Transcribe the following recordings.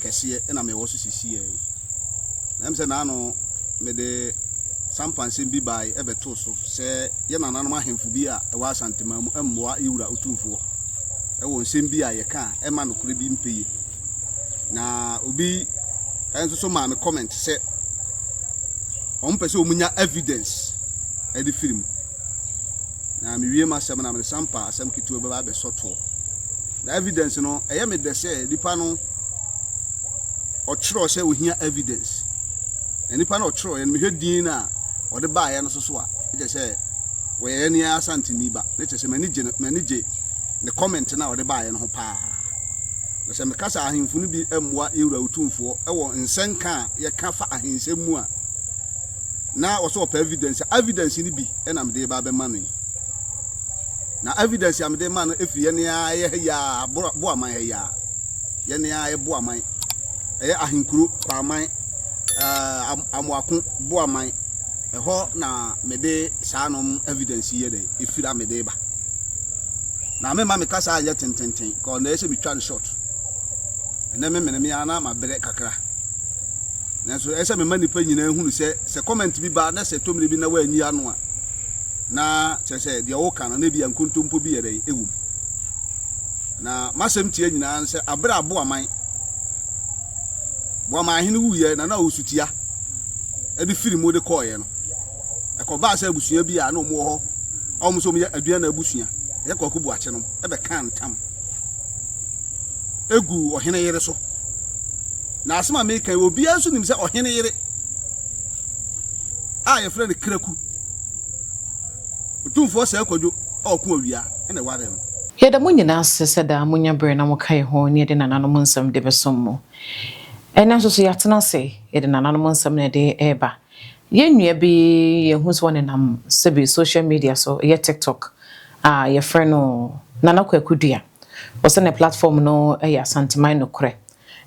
kɛseɛ na mewɔ so sisiiɛ yi. Na ɛm sɛ naano mede sampansɛm bi bae ɛbɛtoo so sɛ yɛ nananom ahemfo bi a ɛwɔ Asanteman mu mmoa yɛ wura otumfoɔ ɛwɔ nsɛm bi a yɛka a ɛma nokorɛ bi mpɛyie. Na obi ɛnso so maa me comment sɛ wɔn pɛ sɛ wɔn nya evidence ɛde firi mu. na mewie m'asɛm na mede sampa asɛm ketewa bɛba abɛsɔ toɔ. Na evidence no, ɛyɛ me dɛ sɛ nipa no ɔtwerɛ sɛ ohia evidence. Na nipa no ɔtwerɛ yɛn mehwɛ din na ɔde baayɛ no soso a, ɛkyɛ sɛ wɔyɛ yɛn yɛn asanteni ba. Na ɛkyɛ sɛ m'ani gye m'ani gye ne comment na ɔde baayɛ no ho paa. Na sɛ meka sɛ ahemfo no bi mmoa yɛwura otumfoɔ wɔ nsɛnka a yɛka fa ahensɛm mu a, na ɔsɛ ɔpɛ evidence a evidence no bi na mede ba bɛma no yi na evidence a mede ma no efi yɛn a ɛyɛ ha yi a bo aman ha yi a yɛn a ɛyɛ bo aman ɛyɛ ahenkuro kwaaman ɛɛ amoako bo aman ɛhɔ na mede saa nom evidence yɛ dɛ efiri a mede ba na mema me kasa anyɛ tententen kɔɔ na ɛsɛ metwa no short ɛnɛ me mene me ara ma brɛ kakra. Nanso ɛsɛ sɛ mema nnipa nyinaa hunu sɛ, sɛ comment bi ba na sɛ ɛtɔ mmere bi na woanyi ano a, na kyerɛ sɛ deɛ woka no, na ebia nkontompo bi yɛ dɛn? Ɛwɔ mu. Na m'asɛm tia nyinaa ne sɛ, abere a Boaman, Boaman ahene wuiɛ na na ɔwɔ sutia de firi mu de kɔeɛ no, ɛkɔbaa sɛ abusua bi a na wɔwɔ hɔ a wɔn nso wɔyɛ Aduana abusua, ɛyɛ Kwaku Boakye nom, ɛbɛkaa ntam egu ɔhene yere so. Na asɛm a meka yi, obiara nso nim sɛ ɔhene yere a yɛfrɛ no Kraku, Otumfoɔ Sɛɛ Kwadwo a ɔko awia na ɛwaree no. Yɛda mo nyinaa ase sɛ daa monya bere na moka yɛn ho ne yɛde nananom nsɛm de bɛsom mo. Ɛnnɛ nso so yɛatena ase, yɛde nananom nsɛm na ɛde reba. Yɛn nua bi yɛahu sɛ ɔnenam sɛbi social media so, ɛyɛ TikTok a, yɛfrɛ no Nana Kwaku Dua. Ɔsɛ ne platform no yɛ Asanteman Nokorɛ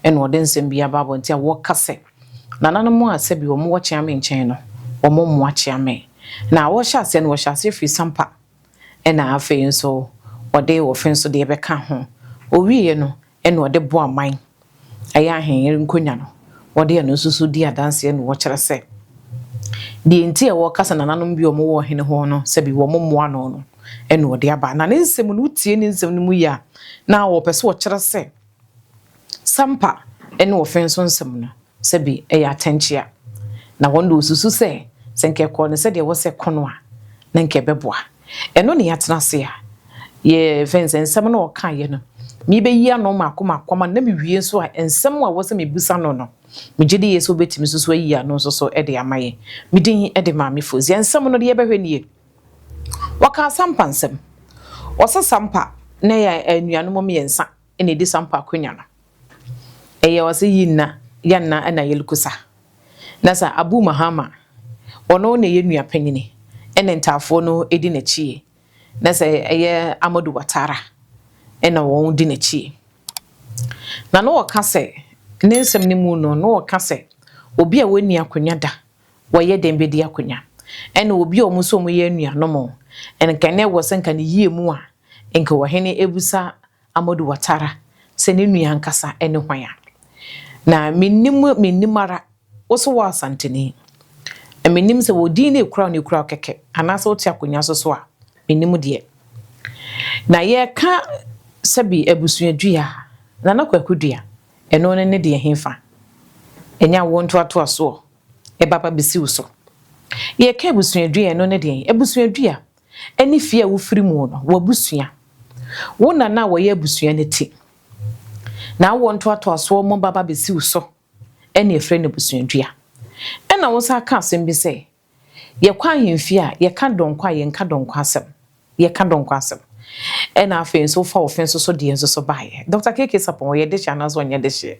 ɛna ɔde nsɛm bi aba abɔnten a ɔka sɛ nananom a sɛbi wɔn wɔ Kyeame nkyɛn no wɔn mmoa Kyeame. Na ɔhyɛ aseɛ no ɔhyɛ aseɛ firi Sampa ɛna afei nso ɔde Wɔfe nso deɛ bɛka ho. Ɔwieɛ no Ɛna ɔde boa man ɛyɛ ahenyer nkonya no, wɔde ɛno nso so di adanseɛ na wɔkyerɛ sɛ deɛ nti a wɔka sɛ nananom bi a wɔwɔ ɔhene hɔ no sɛbi wɔmmoa no no ɛna ɔde aba. Na ne nsɛm no, wotie ne nsɛm no mu yie a, na ɔpɛ sɛ ɔkyerɛ sɛ Sampa ɛne ɔfenso nsɛm no sɛ bi yɛ atɛnkyea, na wɔn de wɔsusu sɛ, sɛ nka ɛkɔɔ no sɛdeɛ ɛwɔ sɛ ɛkɔ no a, na nka ɛbɛboa. Ɛno na yɛatena ase a yɛfɛn sɛ nsɛm no a ɔkaeɛ no, merebɛyi ano mmaako mmaako ama no na mewie nso a, nsɛm a ɛwɔ sɛ mebisa no no, megye di yie sɛ ɔbɛtumi nso so ayi ano nso so de ama yɛn. Me din de Maame Fozier. Nsɛm no deɛ yɛbɛhwɛ nie, Wɔka asampa nsɛm, wɔsa sampa na yɛn anuanom mmiɛnsa na edi sa mpo akwanya no. Eyɛ ɔse yi nna yɛ nna na yɛ lku sa. Na sa Abu Mahama, ɔno na eyɛ nua panyini na ntaafoɔ no di n'akyie. Na sa eyɛ Amadu Watara na wɔn di n'akyie. Na na ɔka sɛ, ne nsɛm no mu no, na ɔka sɛ obi a wɔnni akwanya da, wɔyɛ dɛn bedi akwanya? Ɛna obi a wɔn nso wɔyɛ anuanom, nka na ɛwɔ sɛ nka ne yie mu a, nka ɔhene abu sa Amadou Ouattara sɛ ne nua ankasa ne hwan a? Na mennim wo, mennim wo ara, wo so woyɛ Asanteni. Na mennim sɛ wɔ din na ɛkura wo na ɛkura wo kɛkɛ anaasɛ wote akonnwa so so a, mennim deɛ. Na yɛreka sɛbi abusuadua, Nana Kwaku Dua, ɛno ne ne deɛ hefa? Ɛnyɛ awoɔ ntoatoasoɔ, ɛba ba bɛsi wo so. Yɛreka abusuadua, ɛno ne deɛn? Abusuadua. ne fie a wofiri mu no, w'abusua, wo na na wɔyɛ abusua no ti, na awoɔ ntoatoasoɔ mo baba bɛsi wo so ne ɛfrɛ no abusuadua. Ɛna wo san ka asɛm bi sɛ, yɛkɔ ahemfie a yɛka dɔnkɔ a yɛnka dɔnkɔ asɛm, yɛka dɔnkɔ asɛm. Ɛna afei nso wofa wo fe nso so deɛ nso so baeɛ. Dɔkta KK Sapon, ɔyɛ dehyeɛ anaasɛ ɔnyɛ dehyeɛ?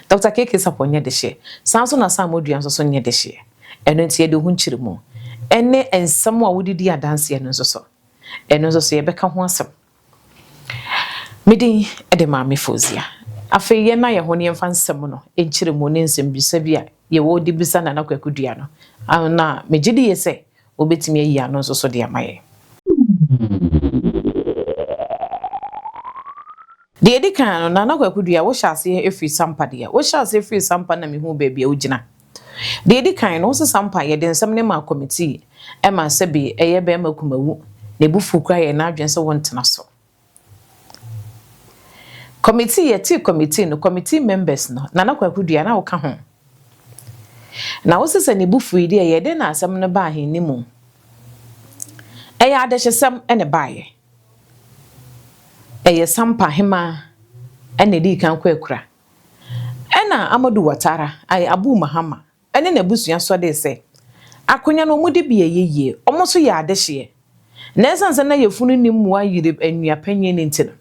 Dɔkta KK Sapon nyɛ dehyeɛ. Saa nso na Sam Odua nso so nyɛ dehyeɛ. Ɛno nti, yɛde wo ho nkyeremu ne nsɛm a wode di adanseɛ no nso so. Ɛno nso so, yɛbɛka ho asɛm. Me din de Maame Fozia. Afei yɛn na yɛn ho ne yɛmfa nsɛm no nkyeremu ne nsɛmbisa bi a yɛwɔ de bisa Nana Kwaku Dua no. Na megye di yie sɛ wobɛtumi ayi ano nso so de ama yɛn. Deɛ ɛdi kan no, Nana Kwaku Dua, wohyɛ aseɛ firi Sampa deɛ? Wohyɛ aseɛ firi Sampa na mehuu baabi a wogyina. Deɛ ɛdi kan no, wosesa mpaeɛ yɛde nsɛm no ma kɔmitii ma sɛbe ɛyɛ barima kumawu na abufuo kura yɛn na adwene sɛ wontena so. Kɔmitii, yɛtee kɔmitii no, kɔmitii members no, Nana Kwaku Dua na woka ho. Na wose sɛ ne bufuo yi deɛ yɛ dɛn na asɛm no baa he ne mu? Ɛyɛ adehyesɛm ne baeɛ. Ɛyɛ Sampa hemaa na ɛdii kan kɔ akura. Ɛna Amadu Watara, ay, Abu Mahama, ne n'abusua sɔdee sɛ, Akonya no ɔmo dibea ɛyɛ yie, ɔmo nso yɛ adehyeɛ. Na ɛsiane sɛ na yafunu nni mmoa Yirib nnua panyin nti no,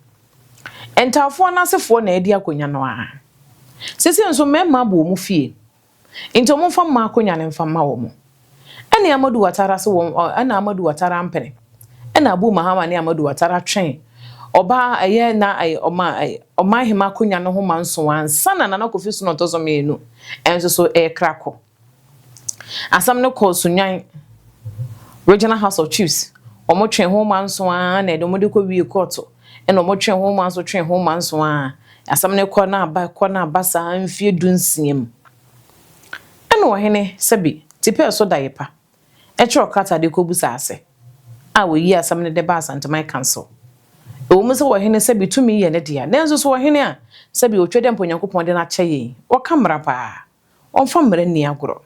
Ntawofoɔ no asefoɔ na ɛdi akonya no ara. Seisei nso mmarima bɔ ɔmo fie. Nti ɔmo nfa mma akonwa no nfa mma wɔn. Ɛne Amadu Watara se wɔn ɛna Amadu Watara mpene. Ɛna Abu Mahama ne Amadu Watara twen ɔbaa ɛyɛ na ɛyɛ ɔma ɛyɛ ɔman hema akonwa no ho ma nson ansa na Nana Kofi Sunu ɔtɔ so mmienu nso so ɛkra kɔ. Asem no kɔ Sunyani Regional House of Chiefs ɔmo twen ho ma nson ara na ɛde ɔmo de kɔ wie kɔɔto. Ɛna ɔmo twe ho ma nso twe ho ma nso a asɛm no kɔ na aba kɔ na aba saa mfie du nsia mu. Ɛna ɔhene Sebi ti pɛɛ so daeɛ pa kyerɛw krataa de kɔ busa ase a ɔyii asɛm no de baa Asanteman Council. Ɛwɔ mu sɛ ɔhene Sebi tumi yɛ ne dea nanso so ɔhene a Sebi ɔtwa dɛ mpo Nyankopɔn de no akyɛ yɛn yi ɔka mmara paa. ɔmfa mmara nni agorɔ.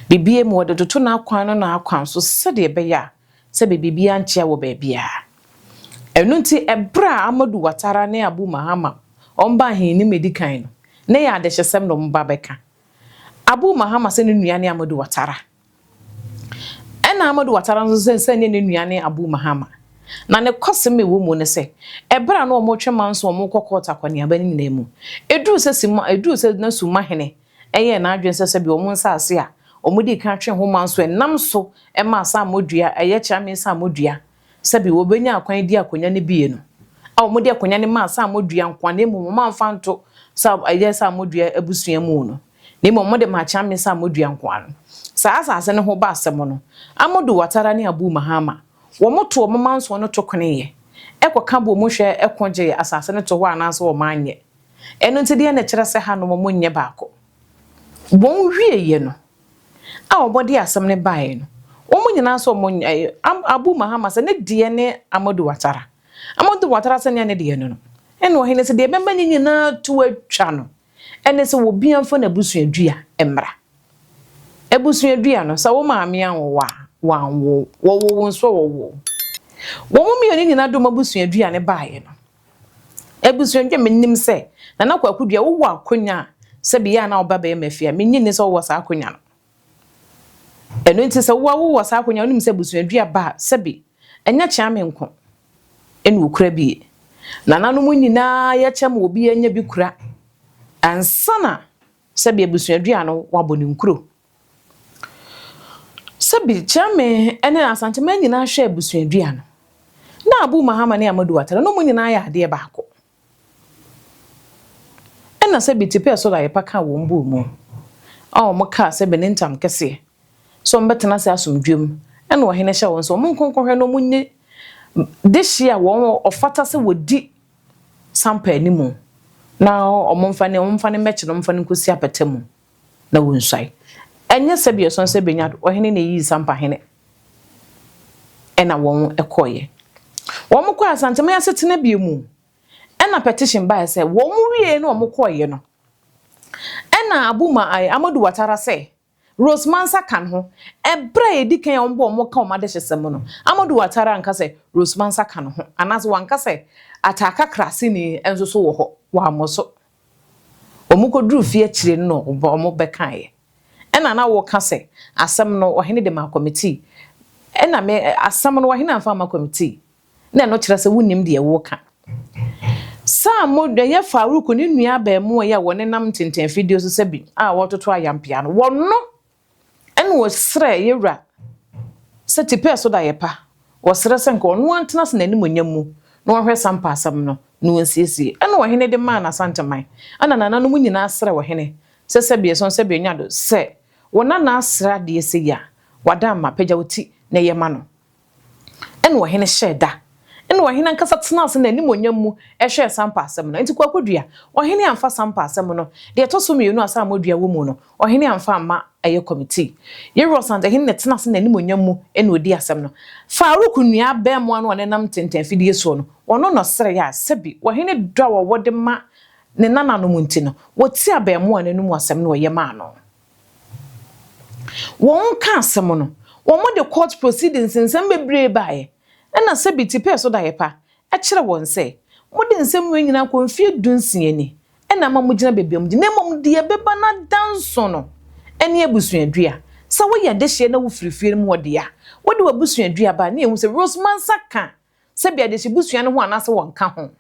Bebia mu ɔde toto n'akwan no n'akwan so sɛdeɛ ɛbɛyɛ a sɛ bɛ biribiara nkyea wɔ baabiara. Ɛno nti ɛberɛ a Amadu Watara ne Abu Mahama ɔmba ahenni mu ɛdi kan no, na ɛyɛ adehyesɛm na ɔmba bɛka. Abu Mahama sɛ ne nua ne Amadu Watara. Ɛna Amadou Ouattara nso sɛ sɛ ne ne nua ne Abou Mahama. Na ne kɔsem ɛwɔ mu ne sɛ, ɛberɛ a na wɔn retwe manso wɔn rekɔ kɔɔt akɔneaba no nyinaa mu, ɛduruu sɛ sima, ɛduruu sɛ na summa hene ɛyɛɛ n'adwene sɛ sɛbia wɔn nsaase a wɔn dii kan twe ho manso ɛnam so ɛma asaamɔ dua, ɛyɛ kyeame nsaamɔ dua Sɛbe wɔbɛnya akwan adi akonwa no bie no, a wɔde akonwa no maa Saamodua nkoa na mmom wɔamfa nto sa ɛyɛ Saamodua abusua mu no, na mmom wɔde maa Kyame Saamodua nkoa no. Saa asaase no ho ba asɛm no, Amodu Watara ne Abu Mahama, wɔto wɔn mansoɔ no tokoneeɛ, ɛkɔka bɔɔ mu hwɛ ko gyee asaase no tohɔ anaasɛ wɔn anyɛ. Ɛno nti deɛ na ɛkyerɛ sɛ ha no wɔn nyɛ baako. Wɔn wieɛ no, a wɔde asɛm no baeɛ no, wɔn nyinaa nso wɔn ɛ, Am, Abu Mahama sɛ ne deɛ ne Amadu Watara. Amadu Watara sɛ nyɛ ne deɛ no no. Ɛna ɔhene sɛ deɛ ɛbɛma ne nyinaa to atwa no, ɛne sɛ obiara mfa n'abusua dua mmra. Abusua dua no, sɛ wo maame anwo wo a, wanwo wo. Wɔwoo wo nso wɔwoo wo. Wɔn mmienu nyinaa de wɔn abusua dua no baeɛ no, Abusua dwa me nim sɛ Nana Kwaku Duah wo wɔ akonya a sɛ bi yɛ a na wo ba bɛyɛ mafia me nyi nni sɛ wo wɔ saa akonya no ɛno nti sɛ wo a wo wɔ saa akonya wo nim sɛ abusua dua ba a sɛ bi ɛnyɛ kyea me nko ɛna okura bi yɛ Nana no mo nyinaa yɛ kyɛ ma obi anya bi kura ansana sɛ bi abusua dua no wabɔ ne nkuro Sɛ bi Gyeremeh ne Asanteman nyinaa hwɛ abusuadua no, na Abu Mahama ne Amadu Watara na wɔn nyinaa yɛ adeɛ baako. Ɛna sɛ bi Tipɛ Soro Ayepa kaa wɔn buu mu a wɔn kaa sɛ bi ne ntam kɛseɛ sɛ wɔn bɛtena ase asomdwoeɛ mu ɛna ɔhene hyɛ wɔn sɛ wɔn nko nkɔhwɛ na wɔn nye dehyeɛ a wɔn ɔfata sɛ wɔdi Sampa animu na wɔn mfa ne wɔn mfa ne mmɛkye na wɔn mfa no nkɔsi apata mu. na wonsuae. Ɛnyɛ sɛdeɛ ɛsɔn sɛ Benyad ɔhene na ɛyii Sampa hene ɛna wɔn kɔeɛ. Wɔn kɔɔ Asanteman asetena bie mu ɛna petition baeɛ sɛ wɔn wieeɛ na wɔn kɔeɛ no ɛna Abu ma ɛɛ Amadu Watara sɛ Rose Mansa ka ne ho. Ɛberɛ a ɛdi kan a wɔn bɔɔ wɔn ka wɔn adehyesɛm mu no, Amadu Watara anka sɛ Rose Mansa ka ne ho anaasɛ wanka sɛ Ataa Kakra Sini nso so wɔ hɔ, wammɔ so. Wɔkɔduruu fie akyire no na wɔbɛkaeɛ. Ɛnna na wɔreka sɛ, Asɛm no ɔhene de maa kɔmitii, ɛnna me, asɛm no ɔhene amfa amma kɔmitii. Na ɛno kyerɛ sɛ wonnim deɛ woreka. Saa mo, ɛyɛ Farouk ne nua abarimaa yi a wɔnenam ntentɛnfidie so sɛ bi a wɔretoto ayampeaa no, wɔno. Ɛna wɔsrɛɛ yɛ Wura sɛ tipɛɛ so da yɛ pa, wɔsrɛ sɛ nka ɔno ara ntena ase n'animuonyam mu na ɔnhwɛ saa mpaasɛm no na ɔnsiesie. Ɛna ɔhene de maa n'Asanteman. Ɛna nananom nyinaa srɛɛ ɔhene sɛ sɛbia ɛsɔn sɛbia ɔnya do sɛ wɔn nana asrɛ adeɛ sei a, wada mma, pagya wo ti na yɛ ma no. Ɛnna ɔhene hyɛɛ da. Ɛnna ɔhene ankasa tenaa ase n'animuonyam mu hwɛɛ sampa asɛm no. Enti kwaku dua, ɔhene amfa sampa asɛm no, deɛ ɛtɔ so mmienu a saamɔ dua wɔ mu no, ɔhene amfa amma ɛyɛ kɔmitii. Yerosank hene na ɛtena ase n'animuonyam mu na ɔdii asɛm no. Farouk nua abaamua no a na ɛnam ntɛntɛn afidie soɔ no, ɔno na ɔsrɛeɛ a sɛbi ɔhene dɔ a ɔwɔ de ma ne nananom nti no, wɔti abaamua no anom asɛm na ɔyɛ maa no. Wɔn ka asɛm no, wɔn de court proceedings nsɛm bebree baeɛ, ɛna sɛbi te pɛɛ so daeɛ pa, ɛkyerɛ wɔn sɛ, mo de nsɛm wei nyinaa kɔ mfie du nsia ni, ɛna ama mo gyina baabi a mo gyina, na mmom deɛ ɛbɛba no ada nson no, ɛne abusuadua, sɛ woyɛ adehyeɛ na wo firi fie no mu hɔ deɛ a, wode w'abusuadua ba a, na yɛhu sɛ Rose Mansa ka Sɛ bia dehyɛ busua no ho anaasɛ wɔnka ho.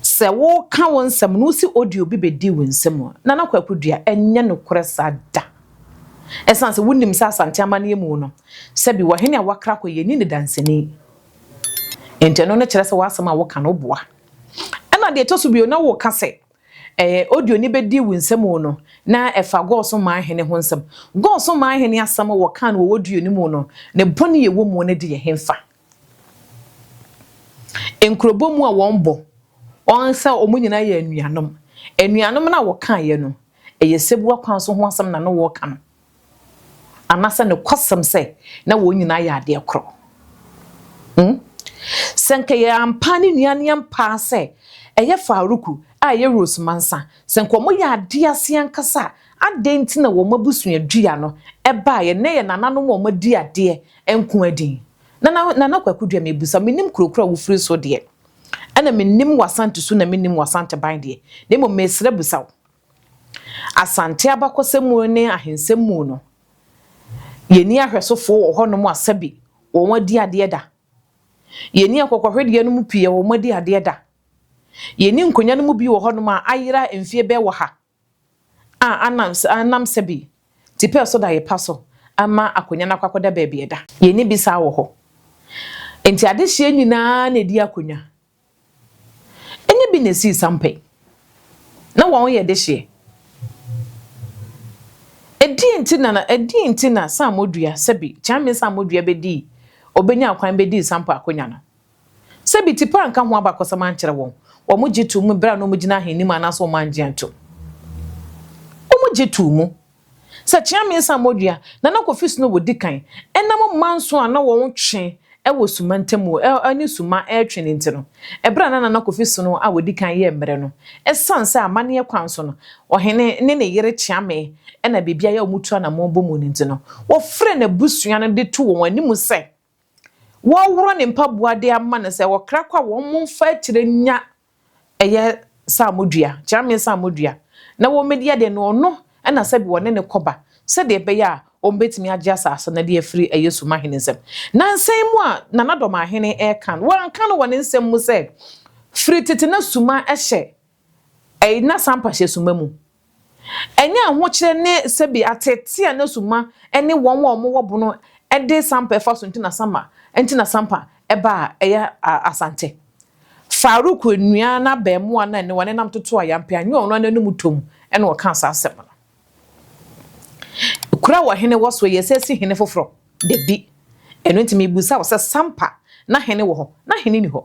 Sɛ wo ka wo nsɛm no wosi audio bi bedi wo nsam a, Nana Kwaku Dua ɛnyɛ nokorɛ saa da. Ɛsan sɛ wo nim sɛ Asante amaneɛ mu no sɛbi wɔ hene a wakra kɔ yɛnni no danseni. Nti ɛno no kyerɛ sɛ w'asɛm a wo ka no wo boa. Ɛna deɛ ɛtɔ so bio na wo ka sɛ Ɛɛ, audio no bɛdi wo nsam o no, na ɛfa Gog so man hene ho nsɛm. Gog so man hene asɛm a wɔkaa no wɔ audio no mu no, ne bɔne a ɛwɔ mu no de yɛ hefa? Nkurobɔ mu a wɔbɔ wɔn sɛ wɔn nyinaa yɛ anuanom. Anuanom no a wɔkaeɛ no, ɛyɛ sɛbua kwan so ho asɛm na na wɔreka no. Anaasɛ nokwasɛm sɛ na wɔn nyinaa yɛ adeɛ korɔ? Hmm? Sɛ anka yɛ ampaa ne nua ne ampaa sɛ ɛyɛ Faruku a ɛyɛ Rose Mansa, sɛ anka wɔn yɛ adeɛ ase ankasa a, adɛn nti na wɔn abusua dua no ɛbaeɛ nnɛ yɛ nananom a wɔn adi adeɛ nko ara din? Nana, Nana Kwaku Duah, mebisa, menim kuro koro a wofiri so deɛ, ɛna menim w'Asante su na menim w'Asanteban deɛ, na mmom mesrɛ bisa wo, Asante abakɔsɛm mu ne ahensɛm mu no, yɛnni ahwɛsofo wɔ hɔnom a sɛbe wɔn adi adeɛ da. Yɛnni akokɔhwedeɛ no mu pii a wɔn adi adeɛ da. Yɛnni nkonwa no mu bi wɔ hɔnom a ayera mfeɛ bɛɛ ɔha a anam anam sɛbe tipɛɛ so da yepa so ama akonwa no akɔ akɔda baabi ɛda. Yɛnni bi saa wɔ hɔ. Enti adehyeɛ nyinaa na ɛdi akonwa. Enye bi na esii sampa yi. Na wɔyɛ dehyeɛ. Ɛdeɛn nti na na ɛdeɛn nti na Saamodua, sɛbi, Kyaame Saamodua bɛdii, ɔbɛnyaa kwan bɛdii sampa akonya no? Sɛbi, Tipa anka ho abakɔsɛm ankyerɛ wɔn, wɔn gye too mu berɛ a na wɔgyina ahenim anaasɛ wɔn angye antom. Wɔn gye too mu. Sɛ kyea mmiɛnsa a modua na na kofi so na wɔdi kan, ɛnam manso a na wɔtwe wɔ suma ntam ne suma retwe no nti no, ɛberɛ a na Nana Kofi so no a wɔdi kan yɛɛ mmerɛ no, ɛsiane sɛ amanneɛ kwan so no, ɔhene ne ne yere kyeamee na biribiara a wɔtu anamɔn bɔ mu no nti no, wɔfrɛɛ n'abusua no de too wɔn anim sɛ. Wɔreworɔ ne mpaboa de ama no sɛ ɔkra kɔ a wɔmfa akyire nya ɛyɛ saamodua, kyeramee saamodua, na wɔmmɛdi adeɛ no, ɔno na sɛbi wɔne no kɔba, sɛdeɛ ɛbɛyɛ a wɔbɛtumi agye asase no de afiri ɛyɛ Sumahene nsam. Na nsɛm mu a Nana Dɔmahene reka no, wanka no wɔ ne nsɛm mu sɛ firi tete na Suma hyɛ Ɛyna Sampahyɛ suma mu. Ɛnyɛ ahokyerɛ ne sɛbi ateetee a na suma ne wɔn a wɔwɔ bono de sampa fa so nti na sama nti na sampa ba a ɛyɛ Asante. Farouk nua no abɛɛmoa no a ne wɔnenam toto ayampe anyɛ ɔno ara n'anum tɔ mu na ɔkaa saa asɛm no. Kuro a ɔhene wɔ so yɛ sɛ si hene foforɔ? Dabi. Ɛno nti merebisa wo sɛ sampa na hene wɔ hɔ na hene nni hɔ?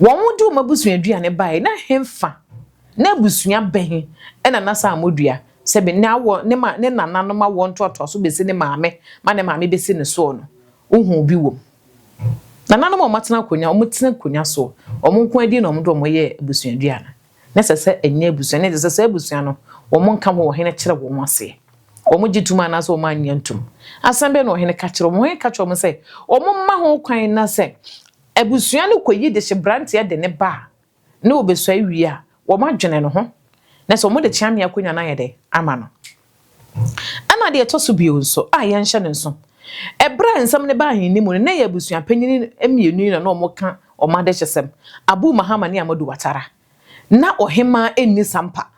Wɔde wɔn abusua aduane baeɛ, na hefa na abusua bɛn na na saa mmɔdua sɛ bɛ na awɔ ne ma ne nananom awoɔ ntoatoaso bɛsi ne maame ma ne maame bɛsi ne soɔ no, wohuu bi wɔ mu. Nananom a wɔatena akonnwa, wɔtena akonnwa soɔ, wɔn nko ara din na wɔde wɔn yɛɛ abusua aduane. na ɛsɛ sɛ ɛnyɛ abusua no, ɛde sɛ saa abusua no wɔn nka ho wɔ hene kyerɛ wɔn ho aseɛ. Wɔn gye tum anaasɛ wɔn annya ntum. Asɛm bɛn na ɔhene ka kyerɛ wɔn? Ɔhene ka kyerɛ wɔn sɛ wɔn mma ho kwan na sɛ abusua no kɔyi de hye branteɛ de ne ba a na ɔbɛsua awie a, wɔn adwene no ho na sɛ wɔn de kyea mmea akonnwa no ayɛ dɛ ama no. Ɛnna deɛ ɛtɔ so bio nso a yɛnhyɛ no nso, ɛberɛ a nsɛm no baa ahenni mu no, na ɛyɛ abusua panyin mmienu yi na na wɔka wɔn adehyesɛm, Abu Mahama ne Amadu Watara. Ná ɔhemmaa nni sampa.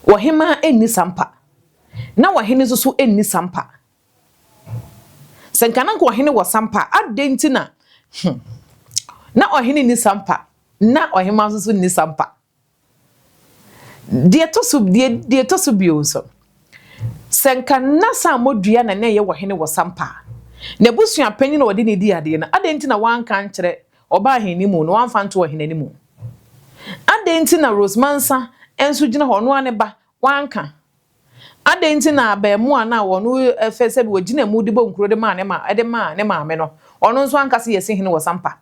Ɔhemmaa nni sampa. Ná ɔhene nso so nni sampa. Sɛ nka na nka ɔhene wɔ sampa a, adɛn nti na hmm, na ɔhene nni sampa, na ɔhemmaa nso so nni sampa? Deɛ ɛtɔ so, deɛ, deɛ ɛtɔ so bio nso, sɛ nka na Sammɔdua na na ɛyɛ ɔhene wɔ Sampa a, n'abusuapanin na ɔde no di adeɛ no, adɛn nti na wanka ankyerɛ ɔbaa ahenni mu no, wamfa anto ɔhene no mu? Adɛn nti na Rose Mansa nso gyina hɔ, ɔno ara ne ba, wanka? Adɛn nti na abarimaa no a ɔno ɛfɛ sɛbi ɔgyina mu de bɔ nkuro de maa ne ma, de maa ne maame no, ɔno nso anka sɛ yɛsi hene wɔ Sampa?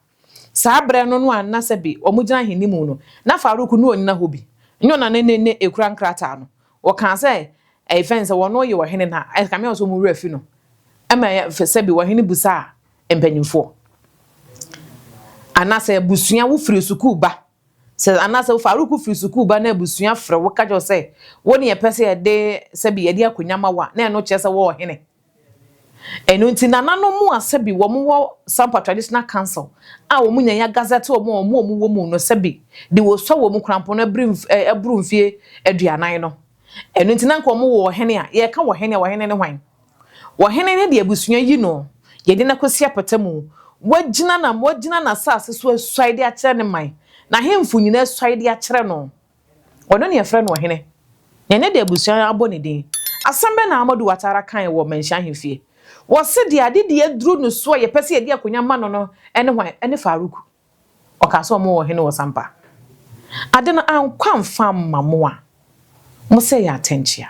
Saa berɛ no no a na sɛbe wɔgyina ahenimu no, na Farouk ne ɔnyina hɔ bi, nyɛ ɔna ne ne ne ɛkura nkrataa no. Wɔkaa sɛ, Ɛye fɛn sɛ wɔno ye ɔhene na ɛkame a ɔsɛ wɔn werɛ fi no. Ɛma sɛbe ɔhene busaa mpanyimfoɔ, Anasɛ abusua wo firi sukuu ba? Sɛ anasɛ wo Farouk firi sukuu ba na abusua frɛ wo ka kyerɛ wo sɛ, Wo ne yɛpɛ sɛ yɛde sɛbe yɛde akonya ma wo a, na ɛno kyerɛ sɛ wo ɔhene. Ɛno nti nananom mu asɛbi wɔn wɔ Sampa Traditional Council a wɔn nya ya gazɛte wɔn a wɔn a wɔn wɔ mu no sɛbi de wɔ sua wɔn kurampɔn no abiri eh, aburu mfie aduanan no. Ɛno nti na nka wɔn wɔ wɔhene a, yɛka wɔhene a wɔhene ne hwan? Wɔhene ne de abusua yi no, yɛde no akɔsi apata mu, wagyina na wagyina n'asase so asuae de akyerɛ ne man, n'ahemfo nyinaa asuae de akyerɛ no. Ɔno na yɛfrɛ no ɔhene, na ɛnyɛ deɛ abusua no abɔ ne din. Asɛm bɛn na Amadou Ouattara kaeɛ wɔ Manhyia ahemfie? Wɔse deɛ ade deɛ aduru no so a yɛpɛ sɛ yɛde akonya ma no no ne hwan? Ɛne Farouk. Ɔkaa sɛ wɔwɔ ɔhene wɔ Sampa. Ade no ankɔ amfa amma mo a, mo sɛ yɛ atɛnkyea.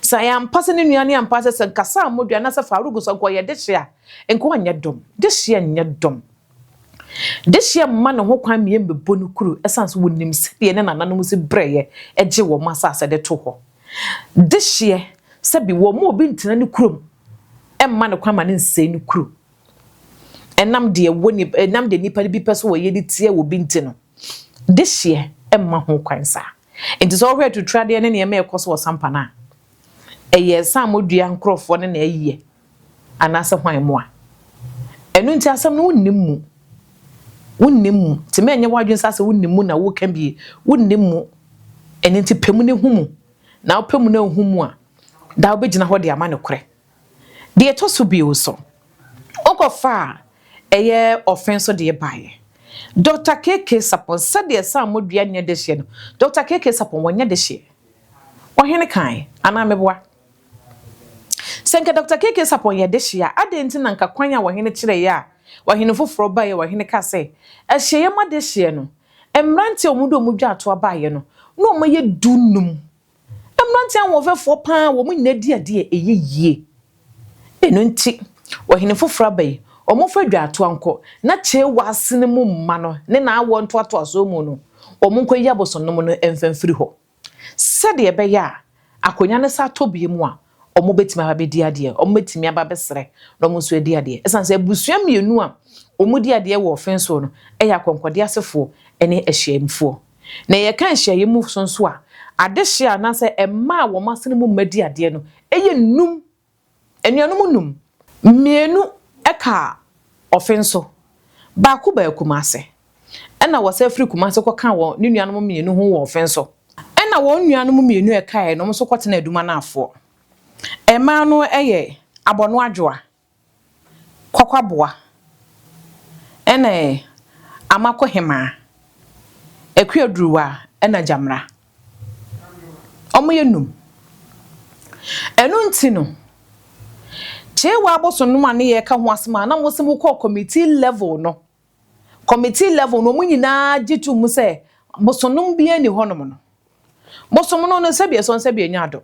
Sɛ ɛyɛ ampa sɛ ne nua ne ampa sɛ sɛ nka Sir Modri anaasɛ Farouk nso nka ɔyɛ dehye a, nka ɔnyɛ dɔm. Dehyeɛ nyɛ dɔm. Dehyeɛ mma ne ho kwan mmie mmɛbɔ ne kuro ɛsiane sɛ wɔnim sɛdeɛ ne nananom si brɛeɛ gye wɔn asase de to hɔ. Dehyeɛ, sɛbi wɔmma obi ntena ne kurom mma no kwan ma no nsɛe ne kuro. Ɛnam deɛ ɛwɔ ni ɛnam deɛ nnipa no bi pɛ sɛ wɔyɛ de tia obi nti no, dehyeɛ mma ho kwan saa. Nti sɛ wohwɛ atutradeɛ ne nneɛma a ɛkɔ so wɔ Sampana a, ɛyɛ saamodua nkorɔfoɔ no na ayɛ. Anaasɛ hwan mmoa? Ɛno nti asɛm no wonnim mu. Wonnim mu. Nti ma ɛnyɛ w'adwene saa sɛ wonim mu na woreka bie. Wonnim mu. Ɛno nti pɛ mu na hu mu. Na wopɛ mu na wohu mu a, daa wobɛgyina hɔ de ama nokorɛ. Deɛ ɛtɔ so bio nso, wokɔfaa ɛyɛ ɔfe nso deɛ baeɛ. Dɔkta KK Sapon, sɛdeɛ Sammɔ dua nyɛ dehyeɛ no, Dɔkta KK Sapon, wɔnyɛ dehyeɛ. Ɔhene kaeɛ, anaa meboa? Sɛ anka Dɔkta KK. Sarpong yɛ dehye a, adɛn nti na anka kwan a ɔhene kyerɛeɛ a ɔhene foforɔ baeɛ a ɔhene kaa sɛ, Ahyiaeɛ ma dehyeɛ no, mmeranteɛ a wɔn de wɔn dwaatoa baeɛ no, na wɔyɛ du nnum. Mmeranteɛ ahoɔfɛfoɔ pa ara, wɔn nyinaa di adeɛ a ɛyɛ yie. Ɛno nti, ɔhene foforɔ aba yi, wɔmfa dwaatoa nkɔ, na Kyei Waasene mu mma no ne n'awoɔ ntoatoasoɔ mu no, wɔnkɔyi abosonnom no mfa mfiri hɔ. Sɛdeɛ ɛbɛyɛ a akonnwa no san tɔ biom a, wɔbɛtumi aba abɛdi adeɛ. Wɔbɛtumi aba abɛsrɛ na wɔn nso adi adeɛ. Ɛsiane sɛ abusua mmienu a wɔdi adeɛ wɔ ɔfe nso no yɛ akɔnkɔdeɛ asefoɔ ne ahyiaeɛmfoɔ. Na yɛka nhyiaeɛ mu so nso a, adehyeɛ a anaasɛ mma a wɔn asene mu mma di adeɛ no yɛ nnum Anuanom nnum, mmienu ka Ɔfen so, baako baa Kumase. Ɛnna wɔsan firi Kumase kɔkaa wɔn ne nuanom mmienu ho wɔ Ɔfen so. Ɛnna wɔn nuanom mmienu a ɛkaeɛ no nso kɔtenaa Adumanafoɔ. Mmaa no yɛ Abɔnoadwoa. Kwakwaboa na ɛ Amakohemaa, Akuaduruwa na Gyamena. Wɔyɛ nnum. Ɛno nti no, Kyewa abosonnom a na yɛreka ho asɛm a na wɔse mokɔɔ committee level no, committee level no wɔn nyinaa gye to mu sɛ bosonnom biara nni hɔnom no, bosomnom no sɛbi ɛsɔ sɛbi ɛnya adɔ.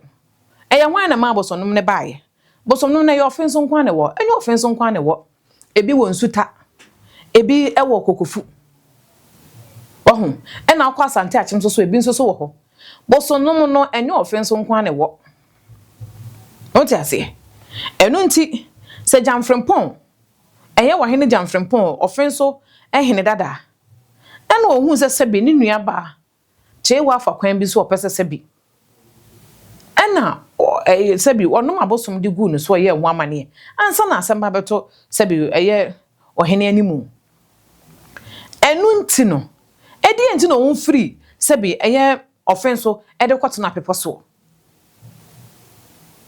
Ɛyɛ hwan na ɛmaa bosonnom no baeɛ? Bosom no no ɛyɛ ɔfe nso nko ara na ɛwɔ? Ɛnyɛ ɔfe nso nko ara na ɛwɔ. Ebi wɔ nsu ta, ebi wɔ kokofu. Wahu? Ɛna wokɔ Asante Akyem nso so ebi nso so wɔ hɔ. Bosom no mu no ɛnyɛ ɔfe nso nko ara na ɛwɔ. Wote aseɛ? Ɛno nti sɛ Gyamfrempɔn, ɛyɛ Ɔhene Gyamfrempɔn ɔfe nso hene dada a, ɛna ɔhuu sɛ sɛbe ne nuabaa Jehu afa kwan bi so a ɔpɛ sɛ sɛbi ɛna ɔ ɛyɛ sɛbi ɔnom abosom de guu ne so yɛɛ ho amaneɛ ansa na asɛm ba bɛto sɛbi ɛyɛ ɔhene animu. Ɛno nti no, ɛdeɛn nti na wɔn firi sɛbi ɛyɛ ɔfen so de kɔ tenaa bepɔ soɔ?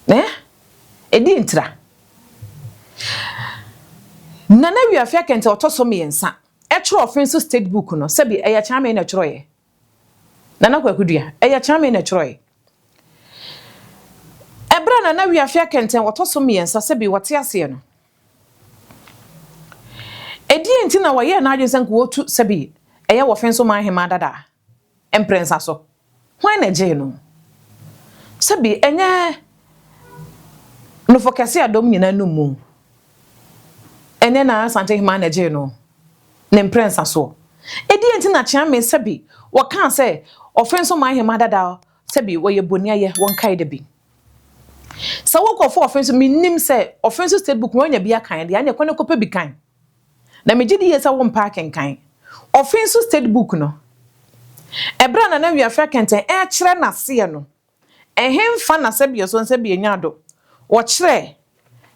Ɛɛ? Ɛdeɛn ntira? Nana Wiafiakɛntɛ ɔtɔ so mmiɛnsa. Ɛtwerɛ ɔfe nso state book no sɛbi ɛyɛ Kyerɛwamee na ɛtwerɛeɛ Nana Kwaku Dua ɛyɛ Kyerɛwamee na ɛtwerɛeɛ Ɛberɛ a Nana Wiafia Kɛntɛn ɔtɔ so mmiɛnsa sɛbi wɔte aseɛ no Ɛdeɛn nti na wɔyɛɛ n'adwene sɛ nka wɔtu sɛbi ɛyɛ wɔ ɔfe nso man hemaa dada mprɛnsa so Hwan na ɛgyee no? Sɛbi ɛnyɛ Nofo kɛse a dɔm nyinaa num mu? Ɛnyɛ na Asante Hemmaa na ɛgyee no ne mprɛnsa soɔ? Ɛdeɛn nti na Kyeame sɛbi wɔkaa sɛ Ɔfenso Man Hemmaa dada sɛbi wɔyɛ boniayɛ wɔnkae da bi? Sɛ wokɔfa Ɔfenso, mennim sɛ Ɔfenso State Book no wanya bi akan deɛ, aneɛ kɔ ne kɔpɛ bi kan. Na megye di yie sɛ wompɛ akenkan. Ɔfe nso state book no, ɛberɛ a Nana Wiafe Akɛntɛn rekyerɛ n'aseɛ no, ɛhenfa na sɛbeɛ so nsɛbeɛ nya do, wɔkyerɛ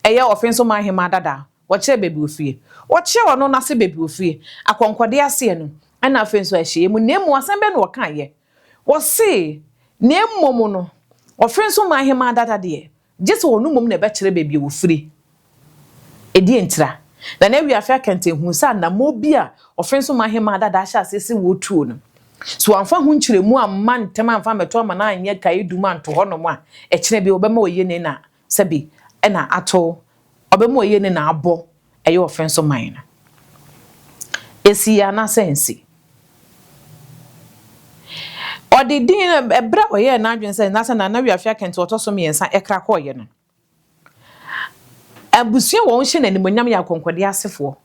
ɛyɛ ɔfe nso man hemaa dada, wɔkyerɛ baabi ofie, wɔkyerɛ ɔno n'ase baabi ofie, akɔnkɔdeɛ aseɛ no, ɛna afei nso ahyɛeɛ mu. Na mmom asɛm bɛn na wɔkaeɛ? Wɔse, na mmom no, ɔfe nso man hemaa dada deɛ, Gye sɛ ɔno mmom na ɛbɛkyerɛ baabi a ɔfiri. Ɛdeɛn ntira? Na n'awia afe akɛntɛn huu sɛ anammɔn bi a ɔfe nso ma Hemaa dada ahyɛ aseɛ sɛ wɔretuo no. Sɛ wɔamfa ho nkyerɛmu amma ntɛm amfa ammɛto ama no anyɛ kaedum anto hɔnom a, ɛkyena bi ɔbɛma wɔayie ne na sɛbe na ato, ɔbɛma wɔayie ne na abɔ ɛyɛ ɔfɛ nso mae no, esii anaasɛ ansi? Ɔde din no, ɛberɛ a ɔyɛɛ n'adwene sɛ na sɛ Nana Wiafe Akanti ɔtɔ so mmiɛnsa ɛkra kɔeɛ no, abusua wɔn hyɛ no animuonyam yɛ akɔnkɔdeɛ asefoɔ.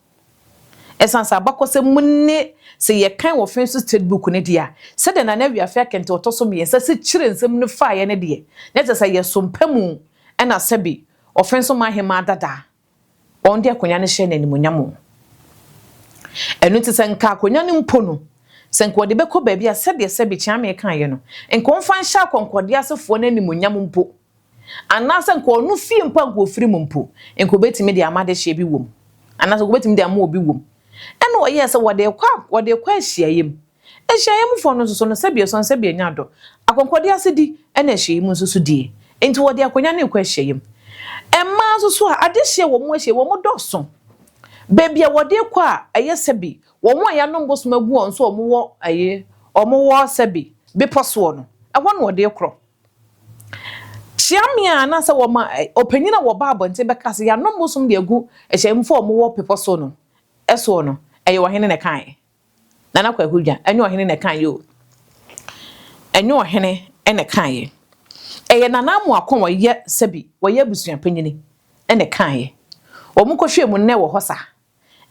Ɛsiane sɛ abakɔsɛm mu ne sɛ yɛkan ɔfɛ nso state book no deɛ a, sɛdeɛ Nana Wiafe Akanti ɔtɔ so mmiɛnsa si kyerɛ nsɛm no faeɛ no deɛ, na kyerɛ sɛ ɛyɛ Sompa mu ɛna sɛbe ɔfɛ nso man hemaa dadaa Wɔn de akonnwa no hyɛ no animuonyam o. Ɛno nti sɛ nka akonnwa no mpo no, sɛ nka wɔde bɛkɔ baabi a, sɛdeɛ Sɛbi Kyeame kaeɛ no, nka wɔmfa nhyɛ akɔnkɔdeɛ asefoɔ no animuonyam mpo, anaasɛ nka ɔno fie mpo a nka ɔfiri mu mpo, nka ɔbɛtumi de ama adehyeɛ bi wɔ mu, anaasɛ nka ɔbɛtumi de ama obi wɔ mu. Ɛna ɔyɛɛ sɛ wɔde rekɔ a, wɔde rekɔ ahyiaeɛ mu. Nhyiaeɛ mu foɔ no nso so no, sɛbi ɛsɔn sɛbi ɛnya dɔ, akɔnkɔdeɛ asedi ɛne ahyiaeɛ mu nso so die nti wɔde akonya no rekɔ ahyiaeɛ mu. Mmaa nso so a adehyeɛ wɔ wɔn ahyiaeɛ wɔn dɔ so. Baabi a wɔde rekɔ a ɛyɛ sɛbi wɔn a yanom bosom agu wɔn so a wɔn wɔ ɛyi wɔn wɔ sɛbi bepɔ soɔ no ɛhɔ na wɔde rekorɔ. Kyeame a anaasɛ wɔma ɔpanyin a wɔba abɔnten bɛka sɛ yanom bosom de agu ahyiaeɛ mu foɔ a wɔn wɔ pepɔ so no ɛsoɔ no ɛyɛ ɔhene na ɛkaeɛ. Nana Kwaku Dwa, ɛnyɛ ɔhene na ɛkaeɛ o. Ɛnyɛ ɔhene na ɛkaeɛ. Ɛyɛ Nana Amoako a wɔyɛ sɛbi wɔyɛ abusua panyini na ɛkaeɛ. Wɔn kɔhwɛɛ mu nnɛ wɔ hɔ sa.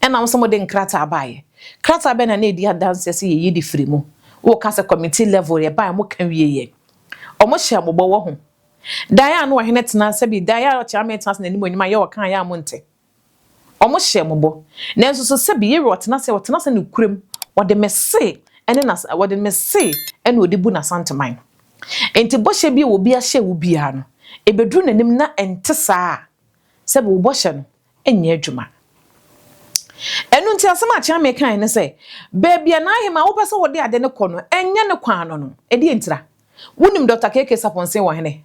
Ɛna wo sɛ mode nkrataa baeɛ. Krataa bɛn na na ɛdi adanseɛ sɛ yɛyi de firi mu? Woka sɛ committee level yɛ baeɛ wɔn ka wieɛ. Wɔn hyɛɛ mo bɔ wɔ ho. Daeɛ a na ɔhene tena sɛbi daeɛ a Kyerɛwamee tena ase n'animuonyam a yɛ ɔkaeɛ a mo nte. Wɔhyɛɛ mo bɔ. Nanso so sɛbe yɛwura ɔtena ase a ɔtena ase nokorɛm, ɔde me se ne n'as ɔde me se na ɔde bu n'Asanteman no. Enti bɔhyɛ bi a obi ahyɛ wo biara no, ɛbɛduru n'anim na ɛnte saa a, sɛbe wo bɔhyɛ no nyɛ adwuma. Ɛno nti asɛm a Kyeame kaeɛ ne sɛ, baabi a n'ahemaa a wopɛ sɛ wode ade no kɔ no, ɛnyɛ ne kwan no no, ɛdeɛn ntira? Wonim Dɔkta KK Sapon Seng wɔ hene?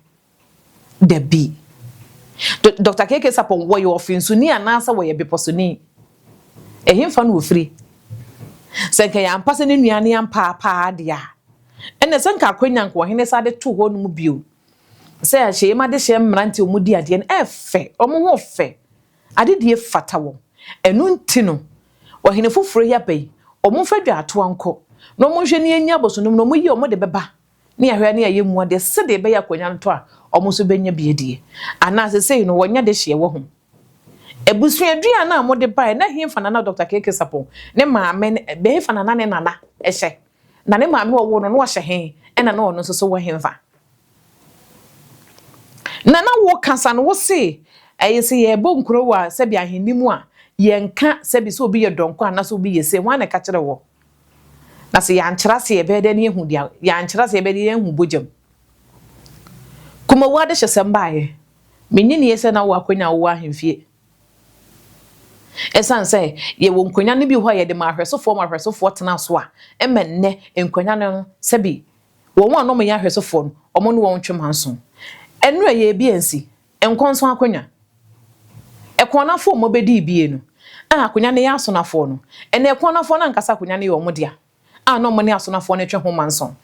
Dabi. Do Doctor KK Sarpong, wɔyɛ ɔfensoni anaasɛ wɔyɛ bepɔsoni? Ɛhenfa na ɔfiri? Sɛ nka ɛyɛ ampa sɛ ne nua no yɛ ampa ara pa ara deɛ a, ɛnna ɛsɛ nka akwanya nka ɔhene san de to hɔ nom bio. Sɛ ahyiaim adehyeɛ mmeranteɛ a wɔdi adeɛ no, ɛfɛ, wɔn ho fɛ, adedie fata wɔn. Ɛno nti no, ɔhene foforɔ yi aba yi, wɔmfa dwaatoa nkɔ na wɔnhwɛ na yɛnnya abosonnom no, wɔyi wɔn de bɛba. ne ahwɛa ne ayɛ mu adeɛ sɛdeɛ ɛbɛyɛ akwanya ntɔ a wɔn nso bɛnya bi adie. Anaa sesei no wɔnya dehyeɛ wɔ ho. Abusuaduan no a mode baeɛ na hefa na na Doctor Keke Sapong ne maame ne hefa na na ne nana hyɛ? Na ne maame a ɔwoo no no ɔhyɛ he ɛna na ɔno nso so wɔ hefa? Na na wo kasa no wo se ɛyɛ sɛ yɛbɔ nkuro wɔ sɛbi ahenni mu a yɛnka sɛbi sɛ obi yɛ dɔnkɔ anaasɛ obi yɛ sei, hwan na ɛka kyerɛ wɔ? Na sɛ yɛankyerɛ ase a, yɛbɛyɛ dɛn na yɛahu deɛ yɛankyerɛ ase a, yɛbɛyɛ dɛn na yɛahu bɔgya mu? Kumawu adehyesɛm baeɛ. Mennye nnie sɛ na wowɔ akwanya a wowɔ ahemfie. Ɛsiane sɛ yɛwɔ nkwanya no bi wɔ hɔ a yɛde ma ahwɛsofoɔ ma ahwɛsofoɔ tena so a, ɛma nnɛ nkwanya no no sɛbi wɔn a na wɔyɛ ahwɛsofoɔ no, wɔne wɔn ntwe manso. Ɛno ɛyɛɛ bi ansi, Nkɔnso akonwa. Ɛkɔn no afoɔ mmɔ bɛdii bie no, a akonwa no yɛ asonafoɔ no, ɛna ɛkɔn no afoɔ no ankasa akonwa no yɛ wɔn dea, a na wɔn ne asonafoɔ no twe ho manson.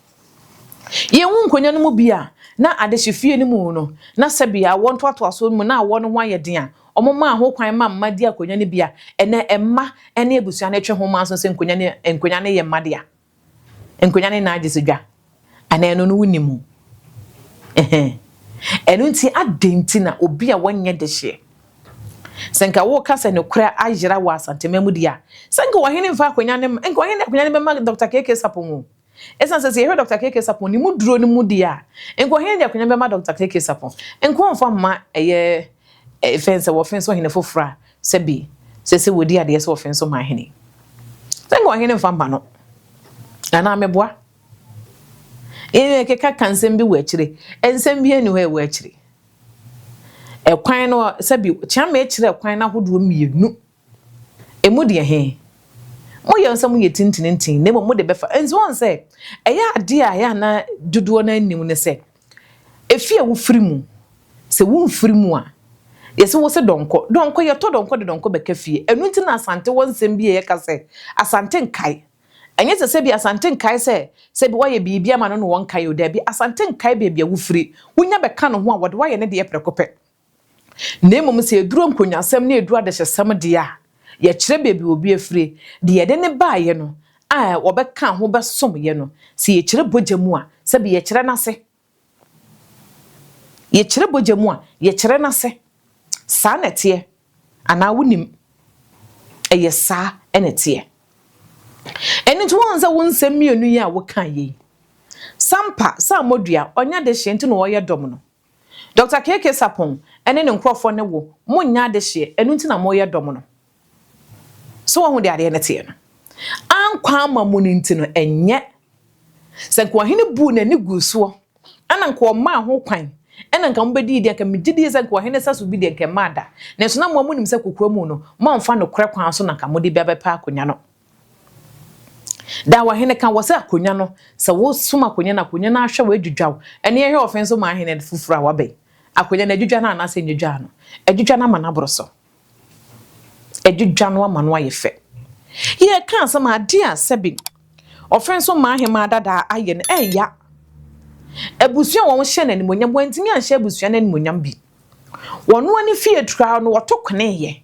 Yɛhu nkonwa no mu bi a na adehye fie no mu no, na sɛbea awoɔ ntoatoasoɔ no mu na awoɔ no ho ayɛ den a wɔmaa ho kwan ma mma di akonwa no bi a ɛna mma ne abusua no twe ho manson sɛ nkonwa no nkonwa no yɛ mma dea. Nkonnwa ne nan gye so dwa. Anaa ɛno no wonim ho? Ɛhɛn. Ɛno nti adɛn nti na obi a wɔnyɛ dehyeɛ? Sɛ nka woka sɛ nokorɛ ayera wɔ Asanteman mu deɛ a, sɛ nka ɔhene mfa akonnwa no mma, nka ɔhene de akonnwa no bɛma Dɔkta KK Sarpong o. Ɛsiane sɛ sɛ yɛhwɛ Dɔkta KK Sarpong ne mu duro no mu deɛ a, nka ɔhene de akonnwa no bɛma Dɔkta KK Sarpong. Nka wɔmfa mma ɛyɛ fɛn sɛ wɔfɛn sɛ ɔhene foforɔ a Sɛ bi, sɛ sɛ wɔdi adeɛ sɛ wɔfe nso ma ahene. Sɛ nka ɔhene mfa mma no. Anaa meboa? Yɛn keka ka nsɛm bi wɔ akyire. Nsɛm bi ani hɔ a ɛwɔ akyire. Ɛkwan no, sɛ bi, Kyeame kyerɛ ɛkwan no ahodoɔ mmienu. Ɛmu deɛ he, mo yɛ sɛ mo yɛ tintinintini, na mmom mo de bɛfa. Nti wɔn sɛ, ɛyɛ adeɛ a yɛ ana dodoɔ no anim ne sɛ, Efi a wofiri mu, sɛ womfiri mu a, yɛse wose dɔnkɔ. Dɔnkɔ, yɛtɔ dɔnkɔ de dɔnkɔ bɛka fie. Ɛno nti na Asante wɔ nsɛm bi a yɛka sɛ, Asante nkae. Ɛnyɛ sɛ sɛbi Asante nkae sɛ sɛbi woayɛ biribi ama no na wɔnkae o, dabi, Asante nkae baabi a wofiri. Wonya bɛka ne ho a, wɔde wo ayɛ ne deɛ prɛko pɛ. Na mmom sɛ ɛduru nkonyasɛm na ɛduru adehyesɛm deɛ a, yɛkyerɛ baabi a obi afire, deɛ yɛde no baeɛ no, a wɔbɛka ho bɛsom yɛn no, sɛ yɛkyerɛ bogya mu a, sɛbe yɛkyerɛ no ase. Yɛkyerɛ bogya mu a, yɛkyerɛ no ase. Saa na ɛteɛ. Anaa wonim? Ɛyɛ saa na ɛteɛ. Ɛno nti wohu sɛ wo nsɛm mmienu yi a wokaeɛ yi, Sampa, Sammɔdua, ɔnyɛ adehyeɛ nti na ɔreyɛ dɔm no, Doctor KK Sarpong ne ne nkorɔfoɔ ne wo mo nyɛ adehyeɛ ɛno nti na mo yɛ dɔm no so wahu deɛ adeɛ no teɛ no ankɔ ama mo no nti no ɛnyɛ sɛ nka ɔhene buu n'ani guu soɔ ɛna nka ɔmaa ho kwan ɛna nka mo bɛdii deɛ nka megye die sɛ nka ɔhene saso bi deɛ nka ɛmaa da nanso na mo a mo nim sɛ kokoa mu no mo amfa nokorɛ kwan so na nka mo de bɛbɛpɛ akonya no Daa w'ahene ka wɔ sɛ akonnwa no, sɛ wosom akonnwa no a, akonnwa no ahwɛ wo adwidwa wo. Ɛnneɛ yɛhwɛ ɔfe nso ma ahene foforɔ a wɔaba yi. Akonnwa no, adwidwa no anaasɛ ɛnnwidwaa no? Adwidwa no ama no aboro so. Adwidwa no ama no ayɛ fɛ. Yɛreka asɛm a, adeɛ a sɛbe ɔfe nso ma ahemmaa dada ayɛ no, ɛreya abusua a wɔhyɛ no animuonyam. Wɔantumi anhyɛ abusua no animuonyam bi. Wɔn ani fii adutoa hɔ no, wɔto kweneeɛ.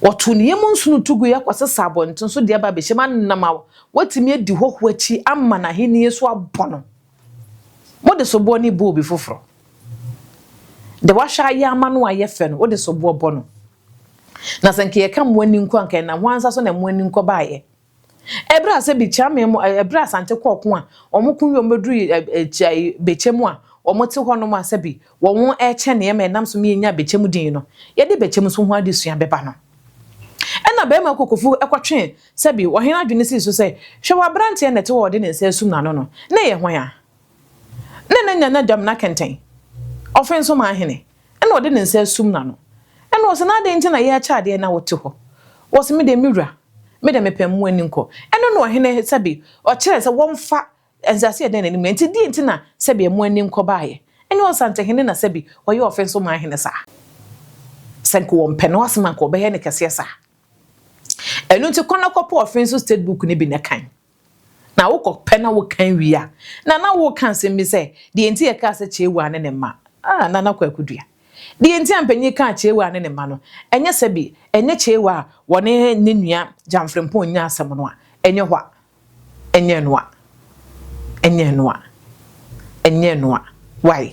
Wɔtow ne yam nsu no tu gui kɔsesa abɔnten so de aba abehyɛ mu anam a wɔatumi adi hɔho akyi ama n'ahenni so abɔ no. Mode soboɔ ne boobi foforɔ. Deɛ wɔahwɛ ayɛ ama no a ɛyɛ fɛ no, wode soboɔ bɔ no. Na sɛ anka yɛka mmoa ani nkɔ a, anka ɛnam hwan nsa so na mmoa ani nkɔ baeɛ? Ɛberɛ a sɛ Bekyame mo, ɛberɛ a Asante kɔɔ ko a, wɔn ko wie wɔn bɛduru Bekyɛm a, wɔte hɔ nom a sɛbi wɔn rekyɛ nneɛma a ɛnam so ma yɛnyaa Bekyɛm din no, yɛde Bekyɛm so ho adesua bɛba no. Ɛna Barima Kokofu kɔtwe sɛbi Ɔhene adwene sii so sɛ, Hwɛ w'aberanteɛ na ɛte hɔ a ɔde ne nsa asum n'ano no, na ɛyɛ hwan a? Nna n'enya n'adam na kɛntsɛn, ɔfe nso ma ahene, nna ɔde ne nsa asum n'ano. Nna wɔse no, Adɛn nti na yɛ akyɛ adeɛ na wote hɔ? Wɔse, Medeɛ, me wura, medeɛ mepɛ mmoa ani nkɔ. Ɛno na ɔhene sɛbe ɔkyerɛɛ sɛ wɔmfa nsase a ɛda n'anim no. Enti deɛn nti na sɛbe mmoa ani nkɔ baeɛ? Ɛnyɛ ɔsantehene na sɛbe ɔyɛ ɔfe nso ma ahene saa? Sɛ nka wɔmpɛ no asɛm a nka wɔbɛyɛ no kɛseɛ saa. Ɛno nti kɔ na kɔpɛ ɔfe nso state book no bi na kan. Na wokɔpɛ na woka wie a, na na woreka asɛm bi sɛ, Deɛ enti a yɛkaa sɛ Kyeewaa ne ne mma, ah, Nana Kwaku Dua. Deɛ enti a mpanin kaa Kyeewaa ne ne mma no, ɛnyɛ sɛ bi, ɛnyɛ Kyeewaa a wɔne ne nua Gyamfrempong nyaa asɛm no a, ɛnyɛ hɔ a, ɛnyɛ ɛno a, ɛnyɛ ɛno a, ɛnyɛ ɛno a. Wai?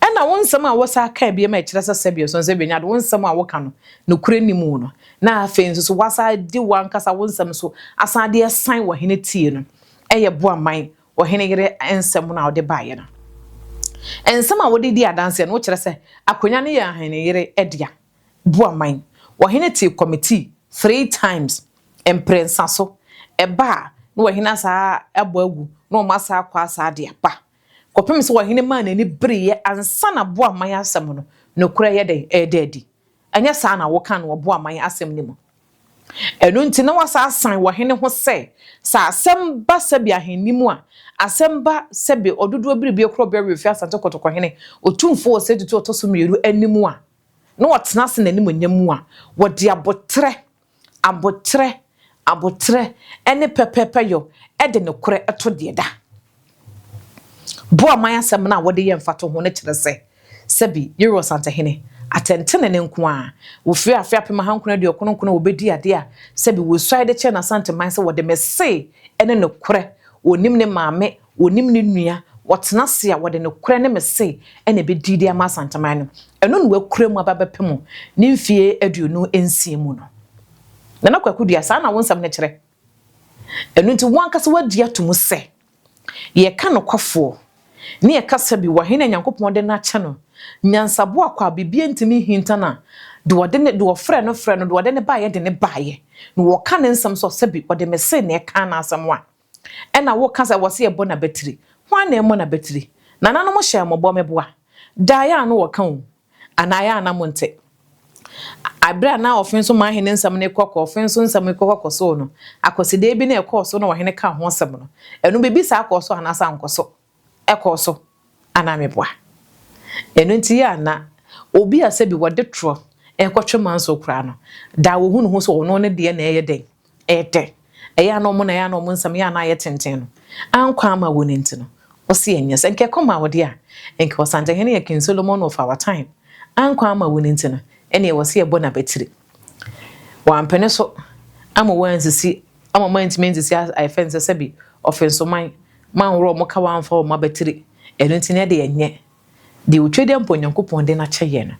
Ɛna wo nsɛm a wosan kaa biom a ɛkyerɛ sɛ sɛdeɛ Ɔsɔnsɛm Benya de wo nsɛm a woka no, nokorɛ nni mu no, na afei nso so woasan de w'ankasa wo nsɛm nso asan de asan ɔhene tie no yɛ boa man ɔhene yere nsɛm no a ɔde baeɛ no. Nsɛm a wode di adanseɛ no, wokyerɛ sɛ akonnwa no yɛ ɔhene yere dea. Boa man ɔhene tee kɔmitii three times, mprɛnsa so. Ɛba a, na ɔhene asan abɔ agu, na wɔn asan akɔ asan de aba. Kɔpem sɛ ɔhene maa n'ani bereeɛ ansa na boa man asɛm no nokorɛ yɛ dɛn? Ɛreda adi. Ɛnyɛ saa na wokaa no wɔ boaman asɛm no mu? Ɛno nti na woasan asan wɔ hene ho sɛ, sɛ asɛm ba sɛbe ahenni mu a, asɛm ba sɛbe ɔdodoɔ biribie korɔ bɛwe ofie Asante Kotoko hene, otumfoɔ wɔ saa tutuo a ɔtɔ so mmienu anim a, na ɔtena ase n'animuonyam mu a, wɔde aboterɛ Aboterɛ, aboterɛ ne pɛpɛɛpɛ yɔ de nokorɛ to deɛ da. Boaman asɛm no a wɔde yɛ mfatoho no kyerɛ sɛ, sɛbi, Yerua Ɔsantehene, atɛntenenee nko ara, wɔfiri afe apem ahankron aduokron nkron na wɔbɛdii adeɛ a, sɛbi, wɔsuae de kyerɛɛ n'Asanteman sɛ wɔde Mese ne nokorɛ, ɔnim ne maame, Wɔnim ne nua, wɔtena ase a wɔde nokorɛ ne me se na ɛbɛdi de ama Asanteman no. Ɛno na wɔakura mu aba bɛpem ne mfeɛ aduonu nsia mu no. Nana Kwaku Duah, saa na wo nsɛm no kyerɛ. Ɛno nti wo ankasa woagye ato mu sɛ yɛka nokwafoɔ ne yɛkasa bi wɔ he na Nyankopɔn de no akyɛ no nyansaboa kwa a biribiara ntumi nhinta no a deɛ ɔde ne, deɛ ɔfrɛɛ no frɛɛ no, deɛ ɔde ne baeɛ de ne baeɛ na wɔka ne nsɛm so a sɛbe ɔde me se na ɛkaa n'asɛm a. Ɛna wo ka sɛ wɔ se ɛbɔ nabatiri. Hwan na ɛmɔ nabatiri? Nananom hyɛɛ mo bɔ me boa. Daa yɛ a no wɔka o. Anaa yɛ a na mo nte. A bere a na Ɔfenso Mahene nsɛm no rekɔ kɔ Ɔfenso nsɛm rekɔ kɔ kɔ so no, akwasidee bi na ɛkɔɔ so na Ɔhene kaa ho asɛm no. Ɛno biribi saa kɔɔ so anaasɛ ankɔ so? kɔɔ so a na meboa. Ɛno nti a na obi a sɛbi wɔde torɔ rekɔtwe manso koraa no, daa wɔhu ne ho sɛ ɔno ne deɛ na ɛyɛ dɛn? Ɛyɛ dɛ. Ɛyɛ a na wɔn na ɛyɛ a na wɔn nsɛm yɛ a na ayɛ tenten no. Ankɔ amma wɔn nti no, ɔse ɛnyɛ sɛ nka ɛkɔ maa ɔde a, nka Ɔsantehene yɛ King Solomon of our time. Ankɔ amma wɔn nti no, ɛnneɛ wɔse ɛbɔ no abatiri. Wɔampene so ama wɔansisi ama wɔantumi ansisi a yɛfrɛ no sɛ sɛbi ɔfensoman ma anworɔ wɔn ka wɔamfa wɔn abatiri. Ɛno nti na ɛde ɛnyɛ deɛ otwa dɛ mpo Nyankopɔn de no akyɛ yɛn no.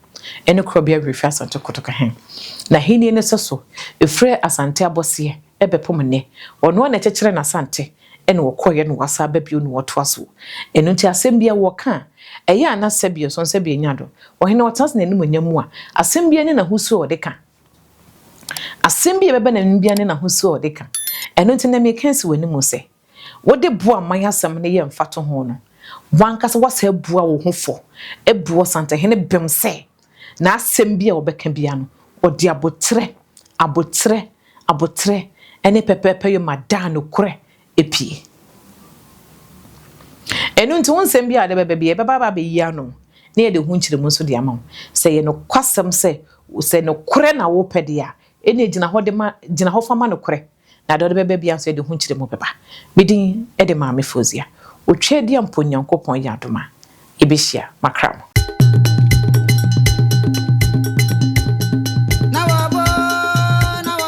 Ɛne korɔbea werɛ firi Asante Kotoko he. N'ahennie no sɛso firi Asante abɔseɛ bɛpem nnɛ. Ɔno ara na ɛkyekyere n'Asante ɛna ɔkɔeɛ na wasan aba bio na ɔtoa so. Ɛno nti asɛm biara wɔka a, ɛyɛ a na sɛbio so nsɛbio nya do. Ɔhene ɔtena ase n'animuonyam mu a, asɛm biara ne n'ahosuo a ɔde ka. Asɛm bi a ɛbɛba n'anim biara ne n'ahosuo a ɔde ka. Ɛno nti nnɛ meka asi w'anim sɛ, wode bo a man asɛm no yɛ mfatoho no, w'ankasa woasan abua wo ho fɔ abu Ɔsantehene bem sɛ Na asɛm bi a ɔbɛka biara no, ɔde aboterɛ, aboterɛ, aboterɛ ne pɛpɛɛpɛ yoma daa nokorɛ pie. Ɛno nti, wo nsɛm biara a wode bɛba biara, yɛbɛba aba abɛyi ano, na yɛde ho nkyerɛmu nso de ama wo. Sɛ ɛyɛ nokwasɛm sɛ, sɛ nokorɛ na wopɛ deɛ a, ɛnna gyina hɔ de ma, gyina hɔ fa ma nokorɛ. Na deɛ ɔde bɛba biara nso, ɛde ho nkyerɛmu bɛba. Me din de Maame Fozia. Otwaadi a mpo Nyankopɔn yɛ adom a, yɛbɛhyia. Makra mo.